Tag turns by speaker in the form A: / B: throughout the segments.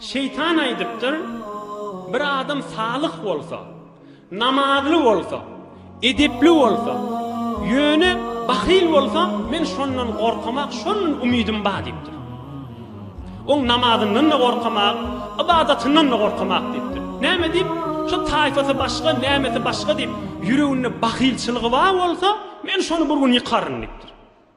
A: Şeýtan aýdypdyr, Bir adam salyh bolsa, namazly bolsa, edepli bolsa, ýöne bahyl bolsa, men şondan gorkamak, şondan umydym bar diýipdir. Oň namazyndan-da gorkamak, ybadatyndan-da gorkamak diýipdir. Näme diýip, şu taýfasy başga, nämesi başga diýip, ýüreginde bahylçylygy bar bolsa, men şony bir gün ýykaryn diýipdir.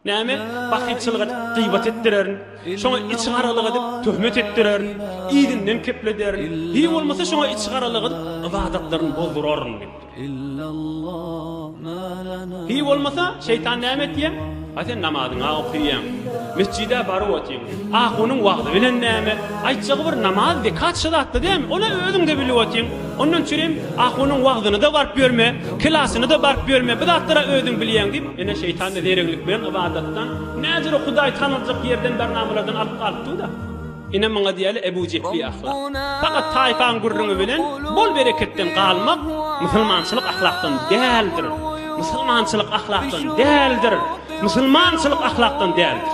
A: Näme bakyçylyk edip, gyýbat etdirerin. Şoňa içigaralyk edip, töhmet etdirerin. Yzyndan keplederin. Hiý bolmasa şoňa içigaralyk edip, ybadatlaryny bozduraryn diýip. Hiý bolmasa şeýtan näme etýär? A sen namazyňa okyýaň. Mesjide baryp otyň. Ahunyň wagzy bilen näme? Aýtjagy bir namaz, zekat şu zatda dämi? Ony özüňde bilip otyň. Ondan çürim ahunyň wagzyna-da baryp ýörme, kelasyna-da baryp ýörme. Bu zatlara özüň bilýäň diýip, Ine, şeýtan-da zereňlik bilen ybadatdan, näzire Hudaý tanaljak ýerden bir namalardan alyp galypdyr-da. Ine, muňa diýýärler Ebu Jehli ahlak. Fakat taýpaň gürrüňi bilen bol bereketden galmak musulmançylyk ahlakdan däldir. Musulmançylyk ahlakdan däldir. Musulmançylyk ahlakdan däldir.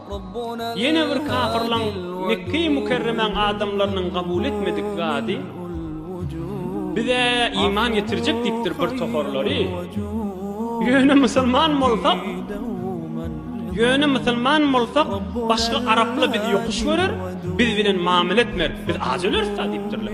A: Ýene bir kapyrlaň Mekge-i Mükerremäň adamlarynyň kabul etmedik zady, Biz-ä iman getirjek diýipdir bir toharlary. Ýöne musulman bolsak, ýöne musulman bolsak, başga arapla bizi ýokuş görer, biz bilen mamele etmer, biz aç öleris-dä diýipdirler.